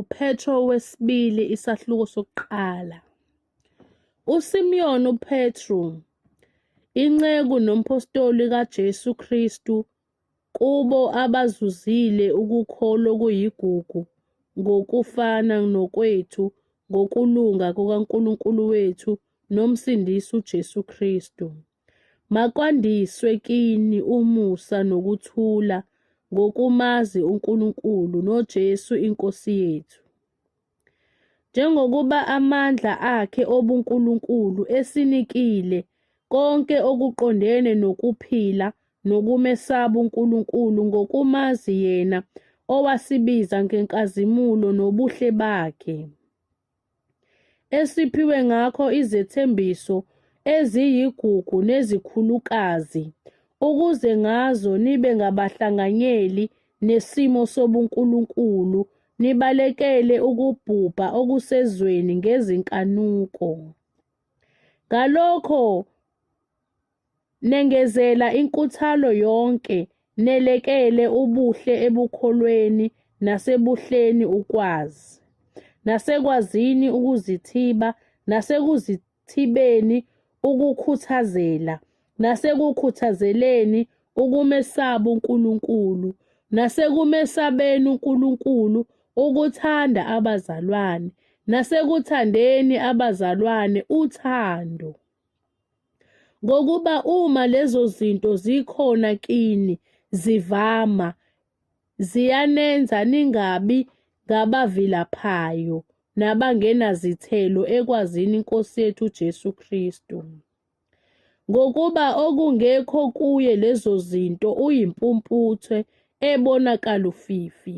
UPetro wesibili isahluko sokuqala. USimiyoni uPetru, inceku nomphostoli kaJesu Kristu kubo abazuzile ukukholwa okuyigugu ngokufana nokwethu ngokulunga kukaNkulunkulu wethu noMsindisi uJesu Kristu. Makwandiswe kini umusa nokuthula ngokumazi uNkulunkulu noJesu iNkosi yethu. Njengokuba amandla akhe obuNkulunkulu esinikile konke okuqondene nokuphila nokumesaba uNkulunkulu ngokumazi yena owasibiza ngenkazimulo nobuhle bakhe. esiphiwe ngakho izethembiso eziyigugu nezikhulukazi, ukuze ngazo nibe ngabahlanganyeli nesimo sobunkulunkulu, nibalekele ukubhubha okusezweni ngezinkanuko. Ngalokho, Nengezela inkuthalo yonke, nelekele ubuhle ebukholweni nasebuhleni ukwazi, nasekwazini ukuzithiba, nasekuzithibeni ukukhuthazela, nasekukhuthazeleni ukumesaba uNkulunkulu, nasekumesabeni uNkulunkulu ukuthanda abazalwane, nasekuthandeni abazalwane uthando. Ngokuba uma lezo zinto zikhona kini zivama, ziyanenza ningabi ngabavilaphayo nabangenazithelo ekwazini iNkosi yethu uJesu Kristu. Ngokuba okungekho kuye lezo zinto uyimpumputhe ebonakala ufifi.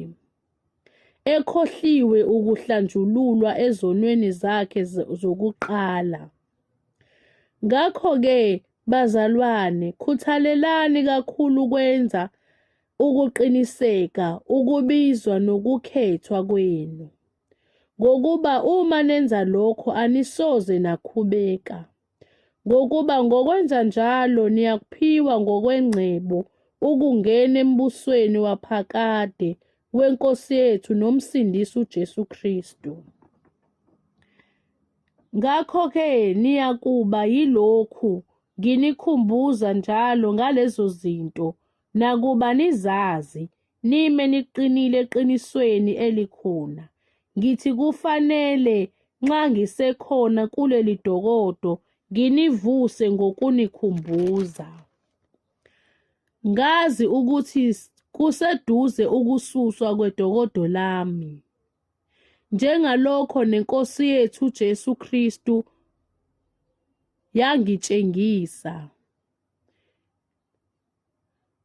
ekhohliwe ukuhlanjululwa ezonweni zakhe zokuqala. Ngakho-ke, bazalwane, khuthalelani kakhulu ukwenza ukuqiniseka ukubizwa nokukhethwa kwenu, ngokuba uma nenza lokho anisoze nakhubeka. ngokuba ngokwenza njalo niyakuphiwa ngokwengcebo ukungena embusweni waphakade weNkosi yethu noMsindisi uJesu Kristu. Ngakho-ke niyakuba yilokhu nginikhumbuza njalo ngalezo zinto, nakuba nizazi, nime niqinile eqinisweni elikhona. Ngithi kufanele nxa ngisekhona kuleli dokodo nginivuse ngokunikhumbuza. Ngazi ukuthi kuseduze ukususwa kwedokodo lami. Njengalokho nenkosi yethu Jesu Kristu yangitshengisa.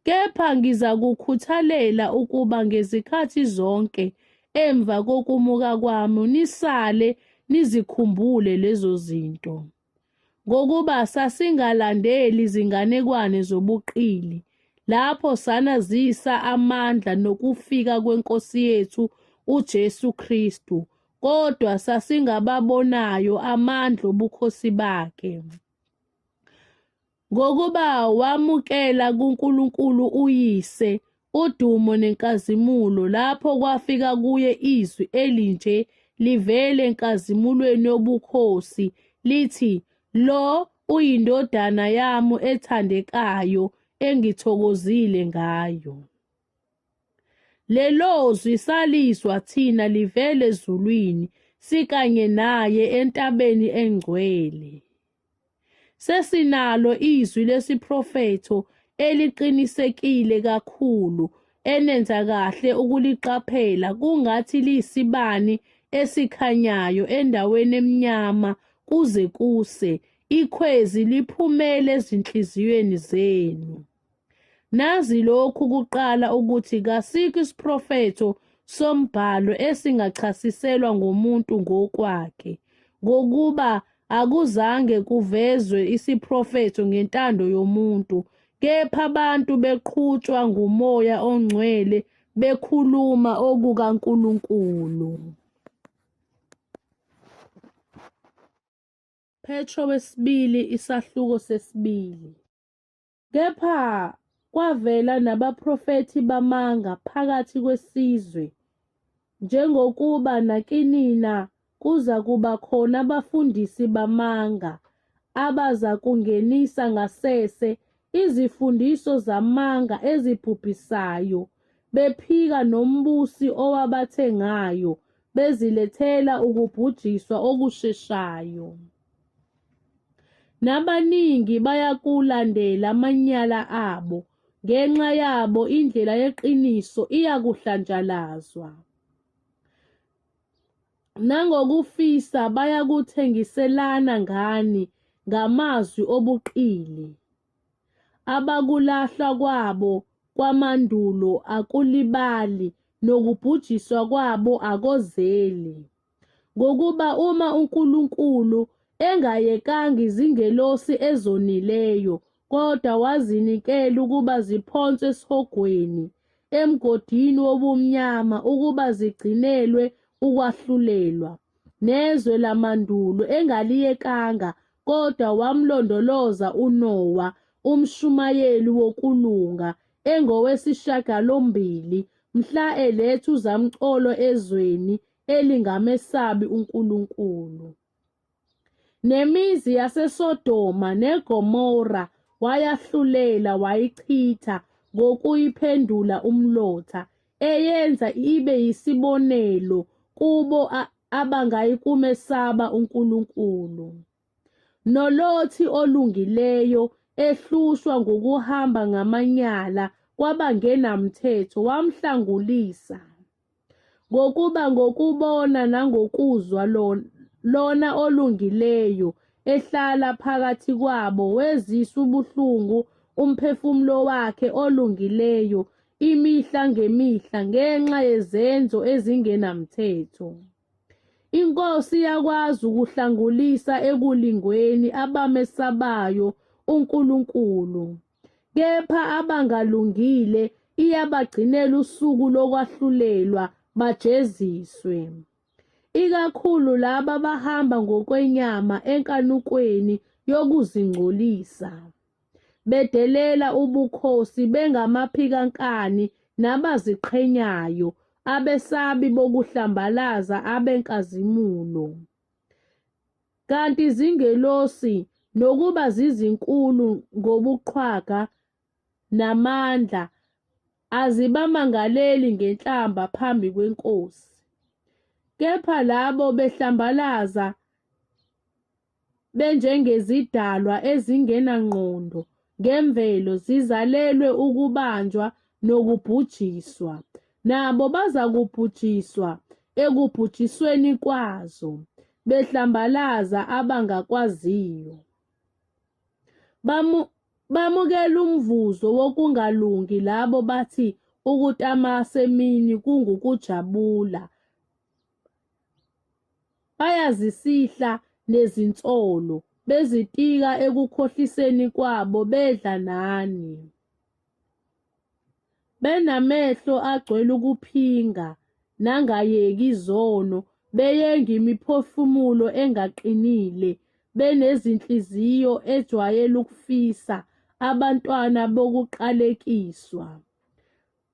Kepha ngizakukhuthalela ukuba ngezikhathi zonke emva kokumuka kwami nisale nizikhumbule lezo zinto. Ngokuba sasingalandeli izinganekwane zobuqili lapho sanazisa amandla nokufika kweNkosi yethu uJesu Kristu, kodwa sasingababonayo amandla obukhosi bakhe. Ngokuba wamukela kuNkulunkulu uYise udumo nenkazimulo lapho kwafika kuye izwi elinje livele enkazimulweni yobukhosi lithi lo uyindodana yami ethandekayo engithokozile ngayo lelozwi salizwa thina livele ezulwini sikanye naye entabeni engcwele Sesinalo izwi lesiprofetho eliqinisekile kakhulu enenza kahle ukuliqaphela kungathi liyisibani esikhanyayo endaweni emnyama kuze kuse ikhwezi liphumele ezinhliziyweni zenu. Nazi lokhu kuqala ukuthi kasikho isiprofetho sombhalo esingachasiselwa ngomuntu ngokwakhe, ngokuba akuzange kuvezwe isiprofetho ngentando yomuntu, kepha abantu beqhutshwa ngumoya ongcwele bekhuluma okukaNkulunkulu. Petro wesibili isahluko sesibili. Kepha kwavela nabaprofethi bamanga phakathi kwesizwe, njengokuba nakinina kuza kuba khona abafundisi bamanga abaza kungenisa ngasese izifundiso zamanga ezibhubhisayo, bephika nombusi owabathengayo, bezilethela ukubhujiswa okusheshayo. Nabaningi bayakulandela amanyala abo, ngenxa yabo indlela yeqiniso iyakuhlanjalazwa. Nangokufisa bayakuthengiselana ngani ngamazwi obuqili. Abakulahlwa kwabo kwamandulo akulibali, nokubhujiswa kwabo akozeli. ngokuba uma uNkulunkulu engayekanga izingelosi ezonileyo kodwa wazinikela ukuba ziphonswe esihogweni emgodini wobumnyama ukuba zigcinelwe ukwahlulelwa nezwe lamandulo engaliyekanga kodwa wamlondoloza uNowa umshumayeli wokulunga engowesishagalombili mhla eletha uzamcolo ezweni elingamesabi uNkulunkulu. Nemizi yaseSodoma neGomora wayahlulela wayichitha ngokuyiphendula umlotha eyenza ibe yisibonelo kubo abangayikumesaba uNkulunkulu. Nolothi olungileyo ehlushwa ngokuhamba ngamanyala kwabangenamthetho wamhlangulisa. Ngokuba ngokubona nangokuzwa lona olungileyo ehlala phakathi kwabo wezisa ubuhlungu umphefumulo wakhe olungileyo imihla ngemihla ngenxa yezenzo ezingenamthetho. Inkosi yakwazi ukuhlangulisa ekulingweni abamesabayo uNkulunkulu. kepha abangalungile iyabagcinela usuku lokwahlulelwa bajeziswe ikakhulu laba abahamba ngokwenyama enkanukweni yokuzingcolisa bedelela ubukhosi bengamaphikankani nabaziqhenyayo abesabi bokuhlambalaza abenkazimulo Kanti izingelosi nokuba zizinkulu ngobuqhwaga namandla azibamangaleli ngenhlamba phambi kwenkosi. Kepha labo behlambalaza benjengezidalwa ezingenangqondo ngemvelo zizalelwe ukubanjwa nokubhujiswa. Nabo bazakubhujiswa ekubhujisweni kwazo, behlambalaza abangakwaziyo. Bamu, bamukela umvuzo wokungalungi labo bathi ukutamasa emini kungukujabula. Bayazisihla nezinsolo, bezitika ekukhohliseni kwabo bedla nani. Benamehlo agcwele ukuphinga nangayeki izono, beyenga imiphefumulo engaqinile, benezinhliziyo ejwayele ukufisa abantwana bokuqalekiswa.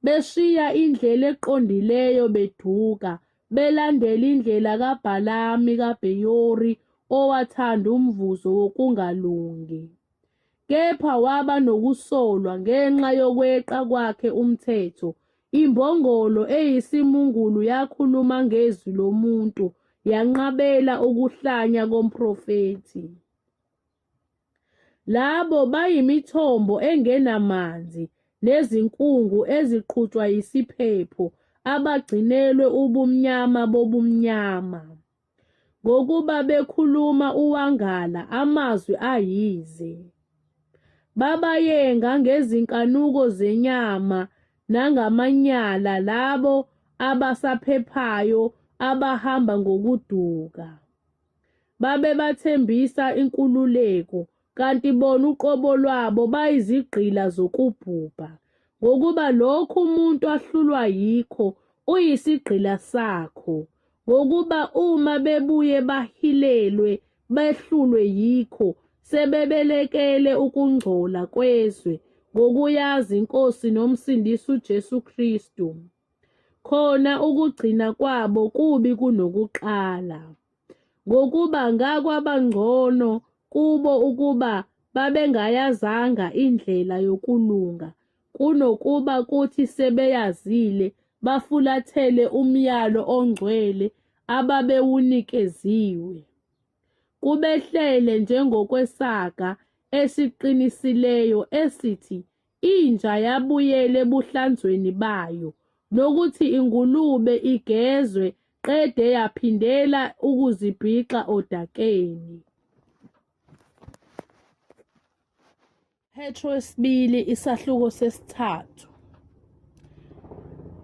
beshiya indlela eqondileyo beduka, belandela indlela kaBhalami kaBheyori owathanda umvuzo wokungalungi. Kepha waba nokusolwa ngenxa yokweqa kwakhe umthetho. Imbongolo eyisimungulu yakhuluma ngezwi lomuntu, yanqabela ukuhlanya komprofethi. Labo bayimithombo engenamanzi nezinkungu eziqhutshwa yisiphepho abagcinelwe ubumnyama bobumnyama. Ngokuba bekhuluma uwangala amazwi ayize. Babayenga ngezinkanuko zenyama nangamanyala labo abasaphephayo abahamba ngokuduka. babebathembisa inkululeko kanti bona uqobo lwabo bayizigqila zokubhubha ngokuba lokhu umuntu ahlulwa yikho uyisigqila sakho ngokuba uma bebuye bahilelwe behlulwe yikho sebebelekele ukungcola kwezwe ngokuyazi inkosi nomsindisi uJesu Kristu khona ukugcina kwabo kubi kunokuqala, ngokuba ngakwabangcono kubo ukuba babengayazanga indlela yokulunga kunokuba kuthi sebeyazile bafulathele umyalo ongcwele ababewunikeziwe. Kubehlele njengokwesaga esiqinisileyo esithi Inja yabuyela ebuhlanzweni bayo nokuthi ingulube igezwe qede yaphindela ukuzibhixa odakeni. Petro wesibili isahluko sesithathu.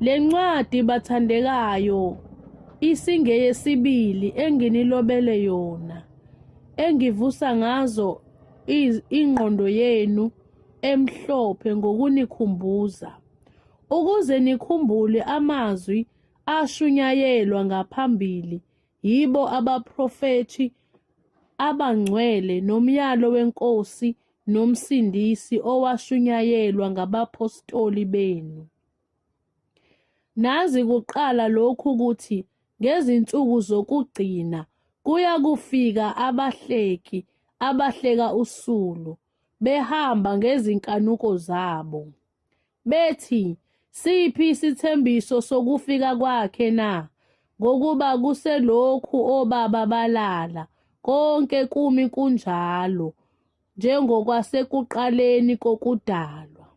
Le ncwadi bathandekayo isingeyesibili enginilobele yona engivusa ngazo ingqondo yenu emhlophe ngokunikhumbuza, ukuze nikhumbule amazwi ashunyayelwa ngaphambili yibo abaprofethi abangcwele nomyalo weNkosi noMsindisi owashunyayelwa ngabaphostoli benu. Nazi kuqala lokhu ukuthi ngezinsuku zokugcina kuya kufika abahleki abahleka usulu, behamba ngezinkanuko zabo bethi siphi isithembiso sokufika kwakhe na ngokuba kuselokhu obaba balala konke kumi kunjalo njengokwasekuqaleni kokudalwa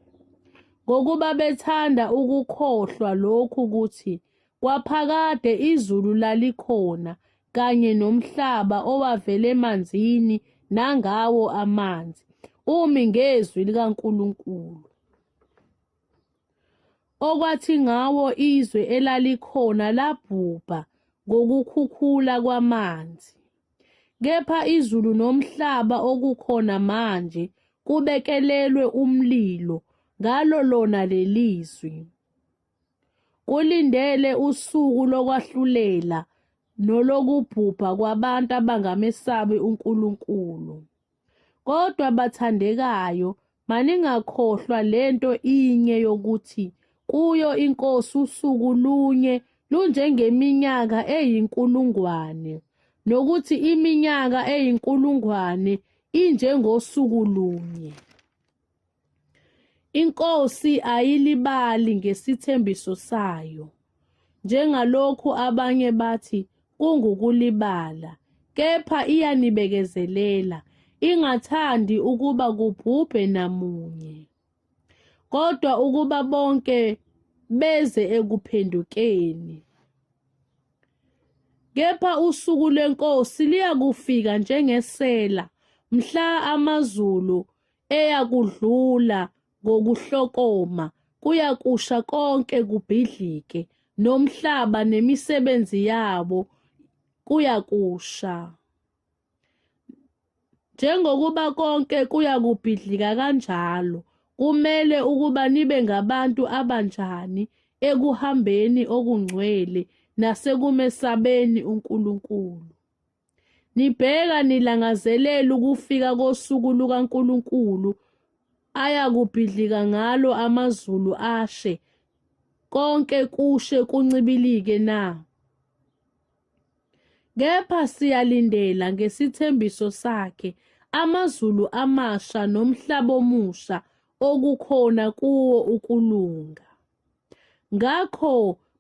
ngokuba bethanda ukukhohlwa lokhu ukuthi kwaphakade izulu lalikhona kanye nomhlaba owavela emanzini nangawo amanzi umi ngezwi likaNkulunkulu okwathi ngawo izwe elalikhona labhubha ngokukhukhula kwamanzi kepha izulu nomhlaba okukhona manje kubekelelwe umlilo ngalo lona lelizwi Kulindele usuku lokwahlulela nolokubhubha kwabantu abangamesabi uNkulunkulu. Kodwa bathandekayo, maningakhohlwa lento inye yokuthi kuyo iNkosi usuku lunye lunjengeminyaka eyinkulungwane, nokuthi iminyaka eyinkulungwane injengosuku lunye. INkosi ayilibali ngesithembiso sayo, njengalokhu abanye bathi kungukulibala, kepha iyanibekezelela, ingathandi ukuba kubhubhe namunye, kodwa ukuba bonke beze ekuphendukeni. Kepha usuku lweNkosi liyakufika njengesela, mhla amazulu eyakudlula ngokuhlokoma kuyakusha konke kubhidlike nomhlaba nemisebenzi yabo kuyakusha njengokuba konke kuyakubhidlika kanjalo kumele ukuba nibe ngabantu abanjani ekuhambeni okungcwele nasekumesabeni uNkulunkulu Nibheka nilangazelela ukufika kosuku lukaNkulunkulu ayakubhidlika ngalo amazulu ashe, konke kushe kuncibilike na? Kepha siyalindela ngesithembiso sakhe amazulu amasha nomhlaba omusha okukhona kuwo ukulunga. Ngakho,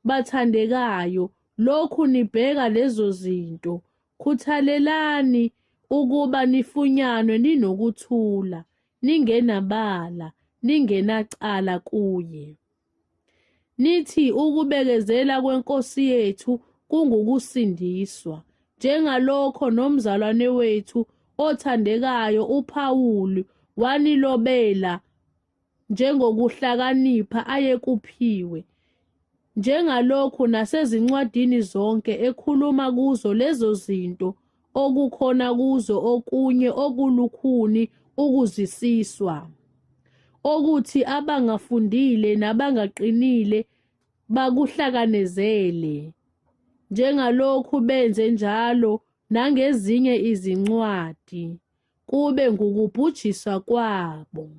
bathandekayo, lokhu nibheka lezo zinto, khuthalelani ukuba nifunyanwe ninokuthula, ningenabala, ningenacala kuye. Nithi ukubekezela kweNkosi yethu kungukusindiswa, njengalokho nomzalwane wethu othandekayo uPawulu wanilobela njengokuhlakanipha ayekuphiwe, njengalokhu nasezincwadini zonke ekhuluma kuzo lezo zinto okukhona kuzo okunye okulukhuni ukuzisiswa, okuthi abangafundile nabangaqinile bakuhlakanezele, njengalokhu benze njalo nangezinye izincwadi. kube ngukubhujiswa kwabo.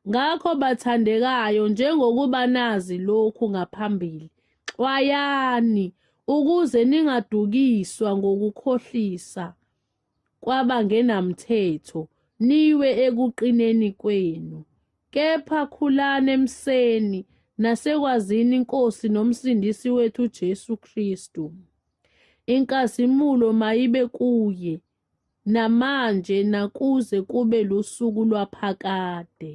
Ngakho bathandekayo njengokuba nazi lokhu ngaphambili, xwayani ukuze ningadukiswa ngokukhohlisa kwabangenamthetho niwe ekuqineni kwenu. Kepha khulani emseni nasekwazini iNkosi noMsindisi wethu uJesu Kristu. Inkazimulo mayibe kuye namanje nakuze kube lusuku lwaphakade.